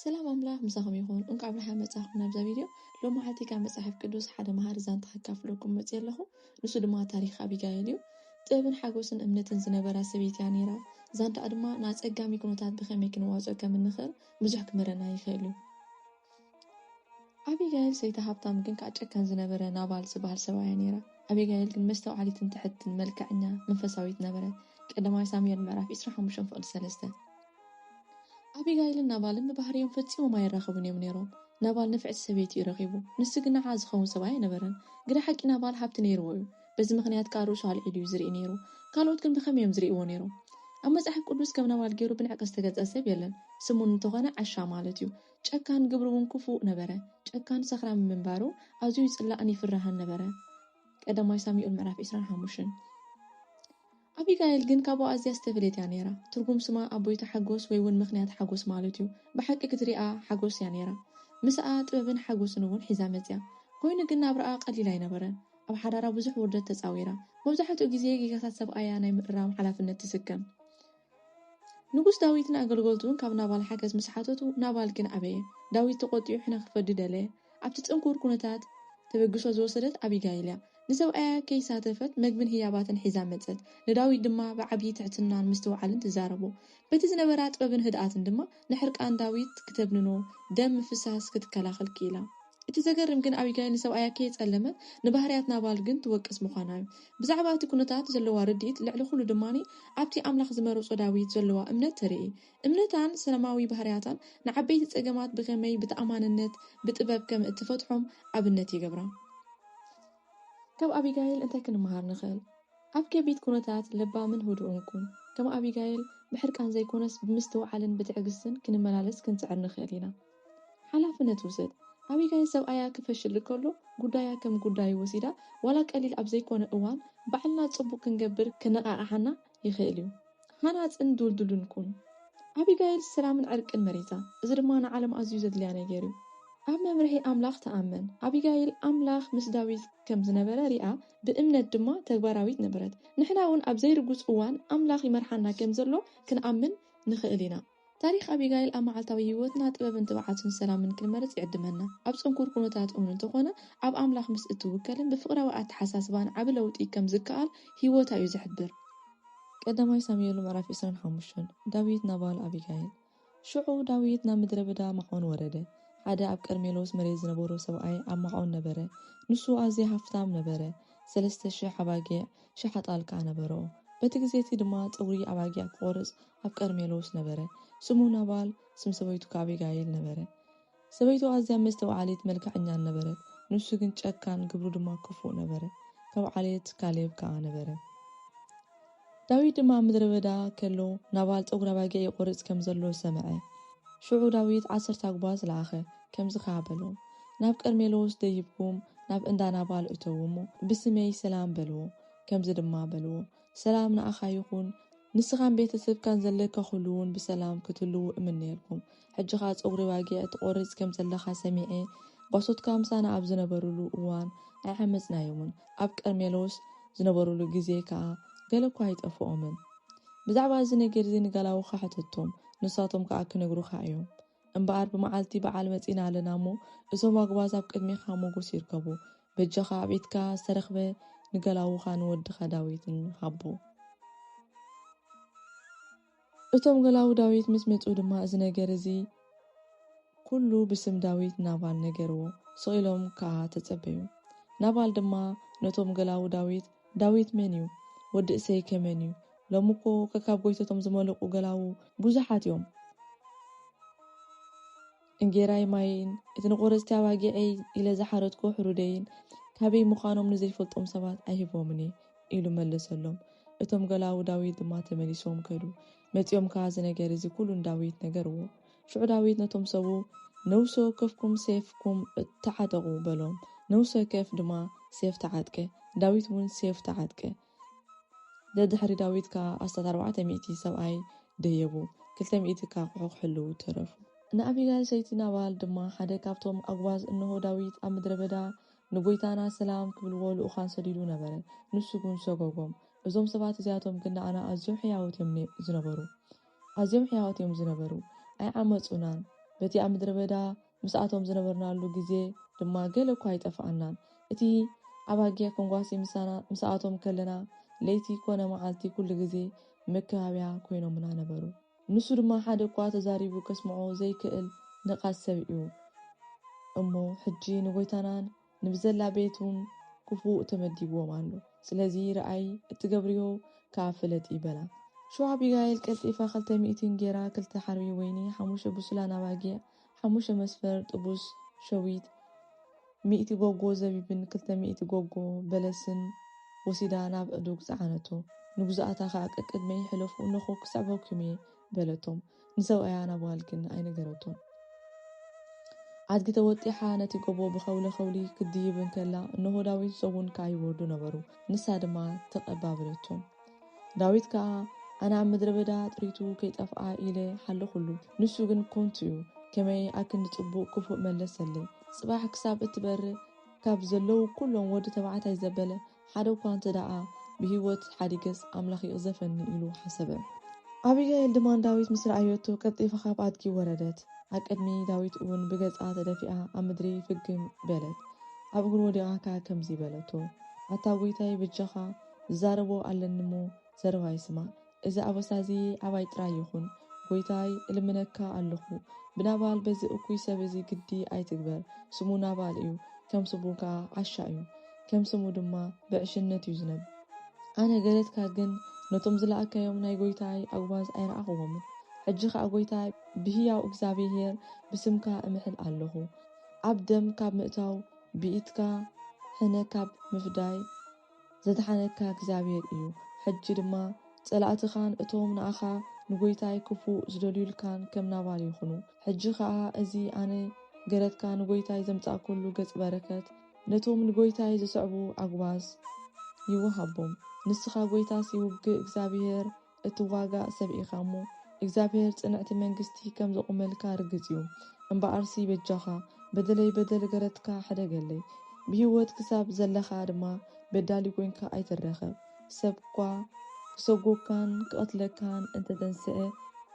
ሰላም ኣምላኽ ምሳኹም ይኹን እንቋዕ ብደሓን መጻኹም ናብዛ ቪድዮ ሎሚ መዓልቲ ካብ መጽሓፍ ቅዱስ ሓደ መሃሪ ዛንታ ከካፍለኩም መጽየ ኣለኹ ንሱ ድማ ታሪኽ ኣቢጋኤል እዩ ጥበብን ሓጎስን እምነትን ዝነበራ ሰበይቲ እያ ነይራ ዛንታኣ ድማ ንኣጸጋሚ ኩነታት ብኸመይ ክንዋጽኦ ከም እንኽእል ብዙሕ ክምህረና ይኽእል እዩ ኣቢጋይል ሰይቲ ሃብታም ግን ከኣ ጨካን ዝነበረ ናባል ዝብሃል ሰብኣይ እያ ነይራ። ኣቢጋይል ግን መስተውዓሊትን ትሕትን መልከዐኛ መንፈሳዊት ነበረት፣ ቀዳማይ ሳሙኤል ምዕራፍ ዕስራን ሓሙሽተን ፍቕዲ ሰለስተ። ኣቢጋይልን ናባልን ብባህርዮም ፈጺሞም ኣይራኸቡን እዮም ነይሮም። ናባል ንፍዕቲ ሰበይቲ እዩ ረኺቡ፣ ንሱ ግን ንዓኣ ዝኸውን ሰብኣይ ኣይነበረን። ግደ ሓቂ ናባል ሃብቲ ነይርዎ እዩ፣ በዚ ምኽንያት ከኣ ርእሱ ኣልዒሉ እዩ ዝርኢ ነይሩ። ካልኦት ግን ብኸመይ እዮም ዝርእይዎ ነይሮም? ኣብ መጽሓፍ ቅዱስ ከም ናባል ገይሩ ብንዕቀት ዝተገልጸ ሰብ የለን፣ ስሙ እንተኾነ ዓሻ ማለት እዩ። ጨካን ግብሩ'ውን ክፉእ ነበረ። ጨካን ሰኽራም ምንባሩ ኣዝዩ ይጽላእን ይፍራህን ነበረ፣ ቀዳማይ ሳሙኤል ምዕራፍ ዕስራን ሓሙሽን። ኣቢጋይል ግን ካብኡ ኣዝያ ዝተፈልየት እያ ነይራ። ትርጉም ስማ ኣቦይቲ ሓጎስ ወይ'ውን ምኽንያት ሓጎስ ማለት'ዩ። ብሓቂ ክትርኣ ሓጎስ እያ ነይራ። ምሳኣ ጥበብን ሓጎስን'ውን ሒዛ መጺኣ። ኰይኑ ግን ናብራኣ ቀሊል ኣይነበረን። ኣብ ሓዳራ ብዙሕ ውርደት ተጻዊራ። መብዛሕትኡ ግዜ ጌጋታት ሰብኣያ ናይ ምእራም ሓላፍነት ትስከም። ንጉስ ዳዊት ንኣገልገልቱ እውን ካብ ናባል ሓገዝ ምስ ሓተቱ፣ ናባል ግን ኣበየ። ዳዊት ተቖጢዑ ሕነ ኺፈዲ ደለየ። ኣብቲ ጽንኩር ኵነታት ተበግሶ ዝወሰደት ኣቢጋይል እያ። ንሰብኣያ ከይሳተፈት መግብን ህያባትን ሒዛ መጸት። ንዳዊት ድማ ብዓብዪ ትሕትናን ምስትውዓልን ትዛረቦ። በቲ ዝነበራ ጥበብን ህድኣትን ድማ፣ ንሕርቃን ዳዊት ክተብንኖ፣ ደም ምፍሳስ ክትከላኸል ክኢላ። እቲ ዘገርም ግን ኣቢጋይል ንሰብኣያ ከየጸለመ ንባህርያት ናባል ግን ትወቅስ ምዃና'ዩ። ብዛዕባ እቲ ኵነታት ዘለዋ ርድኢት ልዕሊ ዅሉ ድማ ኣብቲ ኣምላኽ ዝመረጾ ዳዊት ዘለዋ እምነት ተርኢ። እምነታን ሰላማዊ ባህርያታን ንዓበይቲ ጸገማት ብኸመይ ብተኣማንነት ብጥበብ ከም እትፈትሖም ኣብነት ይገብራ። ካብ ኣቢጋይል እንታይ ክንመሃር ንኽእል? ኣብ ከቢድ ኵነታት ለባምን ህዱእን ኩን። ከም ኣቢጋይል፣ ብሕርቃን ዘይኰነስ ብምስትውዓልን ብትዕግስትን ክንመላለስ ክንጽዕር ንኽእል ኢና። ሓላፍነት ውሰድ። ኣቢጋይል ሰብኣያ ክፈሽል ከሎ ጕዳያ ከም ጕዳዩ ወሲዳ፣ ዋላ ቀሊል ኣብ ዘይኰነ እዋን ባዕልና ጽቡቕ ክንገብር ከነቓቕሓና ይኽእል እዩ። ሃናጽን ድልዱልን ኩን። ኣቢጋይል ሰላምን ዕርቅን መሪጻ፣ እዚ ድማ ንዓለም ኣዝዩ ዘድልያ ነገር እዩ። ኣብ መምርሒ ኣምላኽ ተኣመን። ኣቢጋይል ኣምላኽ ምስ ዳዊት ከም ዝነበረ ርኣ፣ ብእምነት ድማ ተግባራዊት ነበረት። ንሕናውን ኣብ ዘይርጉጽ እዋን ኣምላኽ ይመርሓና ከም ዘሎ ክንኣምን ንኽእል ኢና። ታሪኽ ኣቢጋይል ኣብ መዓልታዊ ህይወትና ጥበብን ትብዓትን ሰላምን ክንመርጽ ይዕድመና። ኣብ ጽንኩር ኩነታት እውን እንተኾነ ኣብ ኣምላኽ ምስ እትውከልን ብፍቕራዊ ኣተሓሳስባን ዓቢ ለውጢ ከም ዝከኣል ህይወታ እዩ ዝሕብር። ቀዳማይ ሳሙኤል ምዕራፍ ዕስራን ሓሙሽተን ዳዊት ናባል ኣቢጋይል። ሽዑ ዳዊት ናብ ምድረ በዳ ማዖን ወረደ። ሓደ ኣብ ቀርሜሎስ መሬት ዝነበሮ ሰብኣይ ኣብ ማዖን ነበረ። ንሱ ኣዝየ ሃፍታም ነበረ፣ ሰለስተ ሽሕ ኣባጊዕ፣ ሽሓ ጣልቃ ነበሮ። በቲ ግዜ እቲ ድማ ጸጕሪ ኣባጊዕ ክቖርጽ ኣብ ቀርሜሎስ ነበረ። ስሙ ናባል፣ ስም ሰበይቱ ከኣ ኣቢጋይል ነበረ። ሰበይቱ ኣዝያ መስተውዓሊት፣ መልክዐኛን ነበረት፣ ንሱ ግን ጨካን፣ ግብሩ ድማ ክፉእ ነበረ። ካብ ዓሌት ካሌብ ከኣ ነበረ። ዳዊት ድማ ኣብ ምድረ በዳ ከሎ ናባል ጸጕሪ ኣባጊዕ ይቖርጽ ከም ዘሎ ሰምዐ። ሽዑ ዳዊት ዓሰርተ ኣጕባዝ ለኣኸ፣ ከምዚ ኸኣ በሎም። ናብ ቀርሜሎስ ደይብኩም ናብ እንዳ ናባል እተዉ እሞ፣ ብስመይ ሰላም በልዎ፣ ከምዚ ድማ በልዎ፣ ሰላም ንኣኻ ይኹን፣ ንስኻን ቤተ ሰብካን ዘለካ ዅሉውን ብሰላም ክትህልዉ እምነየልኩም። ሕጂ ኸኣ ጸጕሪ ኣባጊዕ ትቈርጽ ከም ዘለኻ ሰሚዐ፣ ጓሶትካ ምሳና ኣብ ዝነበሩሉ እዋን ኣይዓመጽናዮምን፣ ኣብ ቀርሜሎስ ዝነበሩሉ ግዜ ከኣ ገለ እኳ ኣይጠፍኦምን። ብዛዕባ እዚ ነገር እዚ ንጋላውኻ ሕተቶም፣ ንሳቶም ከኣ ኪነግሩኻ እዮም። እምበኣር ብመዓልቲ በዓል መጺእና ኣለና እሞ እዞም ኣጉባዝ ኣብ ቅድሜኻ ሞጎስ ይርከቡ በጃኻ ኣብ ኢድካ ዝተረኽበ ንገላዉኻ ንወድኻ ዳዊትን ሃቦ። እቶም ገላዉ ዳዊት ምስ መጹ ድማ እዚ ነገር እዚ ኩሉ ብስም ዳዊት ናባል ነገርዎ ስቅ ኢሎም ከኣ ተጸበዩ ናባል ድማ ነቶም ገላዉ ዳዊት ዳዊት መን እዩ? ወዲ እሰይ ከ መን እዩ? ሎሚ እኮ ከካብ ጎይቶቶም ዝመለቁ ገላዉ ቡዙሓት እዮም። እንጌራይ ማየይን እቲ ንቆረፅቲ ኣባጊዐይ ኢለ ዝሓረድኩ ሕሩደይን ካበይ ምዃኖም ንዘይፈልጦም ሰባት ኣይህቦምን እየ ኢሉ መለሰሎም። እቶም ገላዉ ዳዊት ድማ ተመሊሶም ከዱ። መፂኦም ከዓ እዚ ነገር እዚ ኩሉ ንዳዊት ነገርዎ። ሽዑ ዳዊት ነቶም ሰቡ፣ ነውሲ ወከፍኩም ሴፍኩም ተዓጠቑ፣ በሎም። ነውሲ ወከፍ ድማ ሴፍ ተዓጥቀ፣ ዳዊት እውን ሴፉ ተዓጥቀ። ደድሕሪ ዳዊት ከኣ ኣስታት ኣርባዕተ ሚእቲ ሰብኣይ ደየቡ፣ ክልተ ሚእቲ ከኣ ኣቝሑ ክሕልዉ ተረፉ። ንኣቢጋይል ሰይቲ ናባል ድማ ሓደ ካብቶም ኣጕባዝ፣ እንሆ፣ ዳዊት ኣብ ምድረ በዳ ንጐይታና ሰላም ክብልዎ ልኡካን ሰዲዱ ነበረ፣ ንሱ ግን ሰጐጎም። እዞም ሰባት እዚኣቶም ግን ንኣና ኣዝዮም ሕያዎት እዮም ዝነበሩ። ኣዝዮም ሕያዎት እዮም ዝነበሩ፣ ኣይዓመጹናን፣ በቲ ኣብ ምድረ በዳ ምስኣቶም ዝነበርናሉ ግዜ ድማ ገለ እኳ ኣይጠፍኣናን። እቲ ኣባጊዕ ከንጓሲ ምሳና ምስኣቶም ከለና ለይቲ ኰነ መዓልቲ ኵሉ ግዜ መከባብያ ኰይኖምና ነበሩ። ንሱ ድማ ሓደ እኳ ተዛሪቡ ከስምዖ ዘይክእል ነቓጽ ሰብ እዩ እሞ ሕጂ ንጐይታናን ንብዘላ ቤት ውን ክፉእ ተመዲብዎም ኣሎ ስለዚ ርኣይ እትገብርዮ ክኣ ፍለጢ በላ። ሽዑ ኣቢጋይል ቀልጢፋ ክልተ ሚእቲ እንጌራ ክልተ ሓርቢ ወይኒ ሓሙሽተ ብሱላን ኣባጊዕ ሓሙሽተ መስፈር ጥቡስ ሸዊት ሚእቲ ጎጎ ዘቢብን ክልተ ሚእቲ ጎጎ በለስን ወሲዳ ናብ ዕዱግ ጸዓነቶ ንግዙኣታ ክኣ ቀቅድመይ ሕለፉ እነኹ ክስዕበኩም እየ በለቶም ንሰብኣያ ናብ ጓል ግን ኣይነገረቶን። ኣድጊ ተወጢሓ ነቲ ጎቦ ብኸውለ-ኸውሊ ክትድይብ እንከላ፣ እንሆ ዳዊት ሰጉን ከኣ ይወርዱ ነበሩ። ንሳ ድማ ተቐባበለቶም። ዳዊት ከኣ፣ ኣነ ኣብ ምድረ በዳ ጥሪቱ ከይጠፍኣ ኢለ ሓለኹሉ፣ ንሱ ግን ኮንቱ እዩ፣ ከመይ ኣክንዲ ጽቡቕ ክፉእ መለሰለይ። ጽባሕ ክሳብ እትበርህ ካብ ዘለዉ ኩሎም ወዲ ተባዕታይ ዘበለ ሓደ እኳ እንተ ደኣ ብህይወት ሓዲገስ፣ ኣምላኽ ይቕዘፈኒ ኢሉ ሓሰበ። ኣቢጋይል ድማ ንዳዊት ምስ ረኣየቶ፣ ቀልጢፋ ኻብ ኣድጊ ወረደት፣ ኣብ ቅድሚ ዳዊት እውን ብገጻ ተደፊኣ ኣብ ምድሪ ፍግም በለት። ኣብ እግሩ ወዲቓ ከኣ ከምዚ በለቶ፣ ኣታ ጐይታይ፣ በጃኻ፣ ዝዛረቦ ኣለኒ እሞ፣ ዘረባይ ስማዕ። እዚ ኣበሳ እዚ ዓባይ ጥራይ ይኹን ጎይታይ እልምነካ ኣሎኹ ብናባል በዚ እኩይ ሰብ እዚ ግዲ ኣይትግበር ስሙ ናባል እዩ ከም ስቡ ከኣ ዓሻ እዩ ከም ስሙ ድማ ብዕሽነት እዩ ዝነብ ኣነ ገለትካ ግን ነቶም ዝለኣካዮም ናይ ጎይታይ ኣጉባዝ ኣይረኣኹዎምን ሕጂ ከኣ ጎይታይ ብህያው እግዛብሄር ብስምካ እምሕል ኣሎኹ ኣብ ደም ካብ ምእታው ብኢትካ ሕነ ካብ ምፍዳይ ዘድሓነካ እግዚኣብሄር እዩ፣ ሕጂ ድማ ጸላእትኻን እቶም ንኣኻ ንጐይታይ ክፉእ ዝደልዩልካን ከም ናባል ይኹኑ። ሕጂ ኸኣ እዚ ኣነ ገረትካ ንጐይታይ ዘምጻእኩሉ ገጽ በረከት ነቶም ንጐይታይ ዝስዕቡ ኣጕባዝ ይወሃቦም፣ ንስኻ ጐይታስ ይውግእ እግዚኣብሄር እትዋጋእ ሰብ ኢኻ እሞ እግዚኣብሔር ጽንዕቲ መንግስቲ ከም ዘቁመልካ ርግጽ እዩ እምበኣርሲ በጃኻ በደለይ በደል ገረትካ ሕደገለይ ብሂወት ክሳብ ዘለኻ ድማ በዳሊ ኮንካ ኣይትረከብ ሰብ እኳ ክሰጎግካን ክቀትለካን እንተተንሰኤ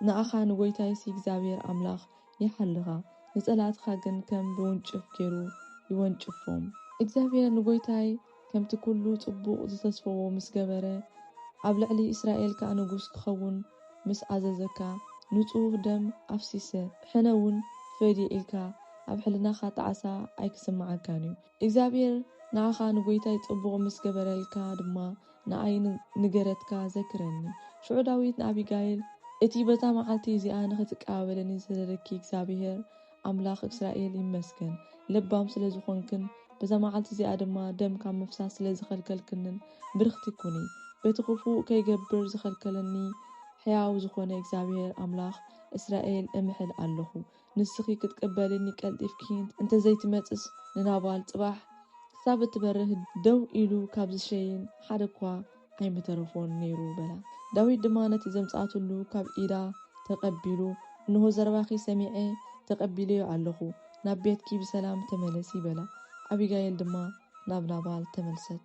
ንኣኻን ጎይታይሲ እግዚኣብሔር ኣምላኽ ይሓልኻ ንጸላእትኻ ግን ከም ብውንጭፍ ጌሩ ይወንጭፎም። እግዚኣብሄር ንጐይታይ ከምቲ ኵሉ ጽቡቕ ዝተስፈዎ ምስ ገበረ፣ ኣብ ልዕሊ እስራኤል ከኣ ንጉስ ክኸውን ምስ ኣዘዘካ፣ ንጹህ ደም ኣፍሲሰ፣ ሕነውን ፈድየ ኢልካ ኣብ ሕልናኻ ጣዕሳ ኣይክስምዓካን እዩ። እግዚኣብሄር ንዓኻ ንጐይታይ ጽቡቕ ምስ ገበረልካ ድማ ንኣይ ንገረትካ ዘክረኒ። ሽዑ ዳዊት ንኣቢጋይል፣ እቲ በታ መዓልቲ እዚኣ ንኽትቀባበለኒ ዝሰደደኪ እግዚኣብሄር ኣምላኽ እስራኤል ይመስገን፣ ለባም ስለ ዝዀንክን በዛ መዓልቲ እዚኣ ድማ ደም ካብ ምፍሳስ ስለ ዝኸልከልክንን ብርኽቲ ኩኒ። በቲ ኽፉእ ከይገብር ዝኸልከለኒ ሕያው ዝዀነ እግዚኣብሄር ኣምላኽ እስራኤል እምሕል ኣሎኹ። ንስኺ ክትቅበልኒ ቀልጢፍኪ እንተ ዘይትመጽስ ንናባል ጽባሕ ክሳብ እትበርህ ደው ኢሉ ካብ ዝሸይን ሓደ'ኳ ኣይምተረፎን ነይሩ በላ። ዳዊት ድማ ነቲ ዘምጽኣትሉ ካብ ኢዳ ተቐቢሉ እንሆ ዘረባኺ ሰሚዐ ተቐቢለዮ ኣለኹ፣ ናብ ቤትኪ ብሰላም ተመለሲ በላ። ኣቢጋይል ድማ ናብ ናባል ተመልሰት።